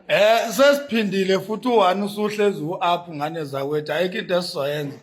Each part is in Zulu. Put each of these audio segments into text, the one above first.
Eh sesiphindile futhi u1 usuhlezi u-up ngane zakwethu ayikho into esizoyenza.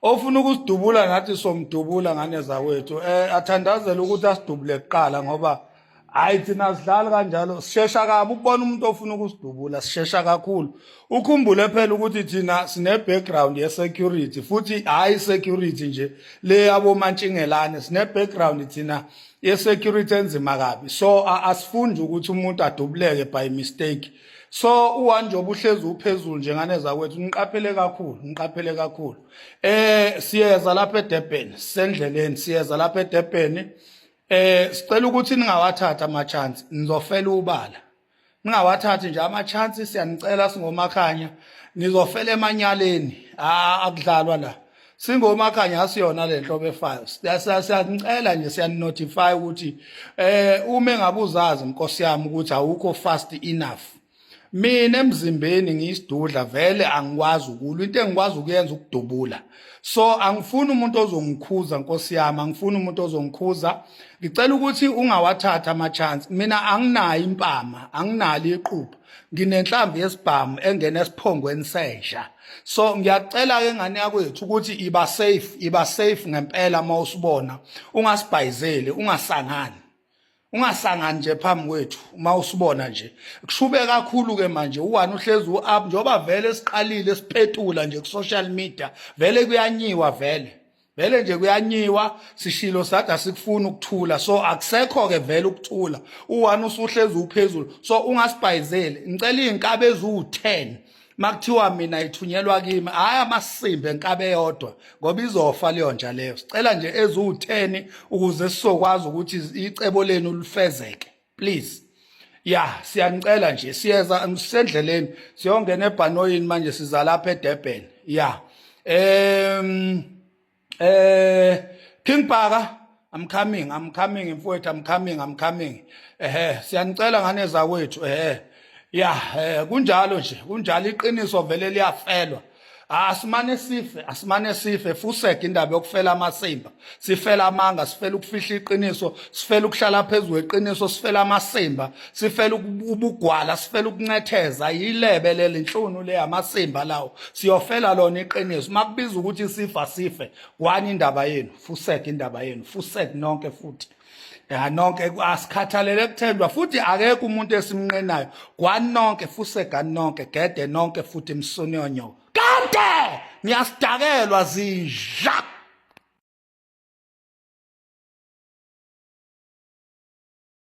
Ofuna ukusidubula ngathi somdubula ngane zakwethu. Eh athandazela ukuthi asidubule kuqala ngoba hayi thina sidlali kanjalo sishesha kabi ukubona umuntu ofuna ukusidubula sishesha kakhulu. Ukhumbule phela ukuthi thina sine background ye security futhi hayi security nje le yabo mantshingelane sine background thina yesecurity enzima kabi so asifundi ukuthi umuntu adubuleke by mistake so uwanje obuhlezi uphezulu njengane zakwethu niqaphele kakhulu niqaphele kakhulu eh siyeza lapha eDurban sendleleni siyeza lapha eDurban eh sicela ukuthi ningawathatha ama chance nizofela ubala ningawathathi nje ama-chance siyanicela singomakhanya nizofela emanyaleni akudlalwa la singomakhanya asiyona le nhlobo efayo siyanicela nje siyaninotify ukuthi um uma engabe uzazi nkosi yami ukuthi awukho fast enough mina emzimbeni ngiyisidudla vele angikwazi ukulwa into engikwazi ukuyenza ukudubula so angifuni umuntu ozongikhuza nkosi yami angifuni umuntu ozongikhuza ngicela ukuthi ungawathatha ama-chance mina anginayo impama anginalo iqupha nginenhlamvu yesibhamu engena esiphongweni sesha so ngiyacela-ke ngane yakwethu ukuthi iba safe iba safe ngempela uma usibona ungasibhayizeli ungasangani ungasangani nje phambi kwethu uma usibona nje kushube kakhulu ke manje uwani uhlezi u-up njengoba vele siqalile sipetula nje ku-social media vele kuyanyiwa vele vele nje kuyanyiwa sishilo sathi asikufuni ukuthula so akusekho-ke vele ukuthula uwani usuhlezi uphezulu so ungasibhayizeli ngicela iy'nkabi eziwu-ten makuthiwa mina ithunyelwa kimi hayi amasimbe enkabe yodwa ngoba izofa leyo nja leyo sicela nje eziwu-10 ukuze sizokwazi ukuthi icebo lenu lifezeke please ya siyanicela nje siyeza sisendleleni siyongena ebhanoyini manje siza lapha edurban ya um eh King Bhaka I'm coming I'm coming mfowethu I'm coming I'm coming ehe siyanicela ngane zakwethu ehe ya eh, kunjalo nje kunjalo iqiniso vele liyafelwa ah, asimane sife asimane sife fuseke indaba yokufela amasimba sifela amanga sifela ukufihla iqiniso sifela ukuhlala phezulu eqiniso sifela amasimba sifela ubugwala sifela ukuncetheza yilebe leli nhlunu le amasimba lawo siyofela lona iqiniso makubiza ukuthi sifa sife kwani indaba yenu fuseke indaba yenu fuseke nonke futhi ya nonke asikhathalele kuthendwa futhi akekho umuntu esimnqenayo kwani nonke fuseka nonke gede nonke futhi msonyonyo kade niyasidakelwa zinja